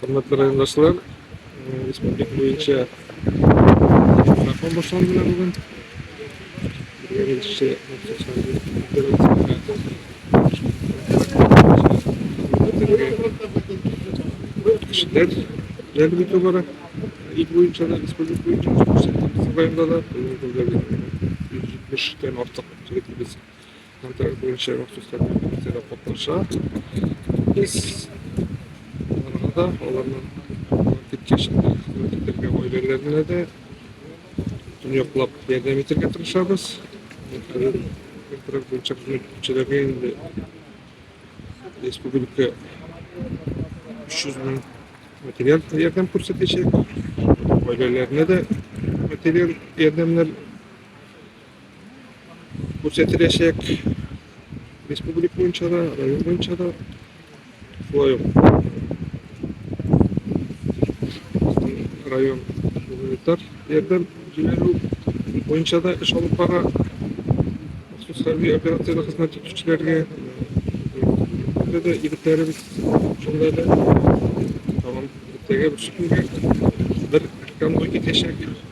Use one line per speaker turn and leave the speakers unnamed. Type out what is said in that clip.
Хөрмәтле райондашлар, республика буенча закон башланды бүген. Беренче кешеләр реабилитация бара. Ил буенча да, республика буенча да, районда да, 170 тән артык егетебез Контракт буенча махсуслар белән акциядә катнаша. Без аларга да, аларның көткәч хезмәт итәргә гаиләләренә дә төньяклап ярдәм итәргә тырышабыз. Хәзер контракт буенча хезмәт итүчеләргә инде республика 300 мең материал ярдәм күрсәтәчәк. Гаиләләренә дә материал ярдәмнәр күрсәтеләчәк республик буенча да район буенча да шулай ук район гуманитар ярдәм җибәрү буенча да эш алып бара махсус хәрби операциядә хезмәт итүчеләргә да егетләребез шунда да тагын иртәгә бер конвой китәчәк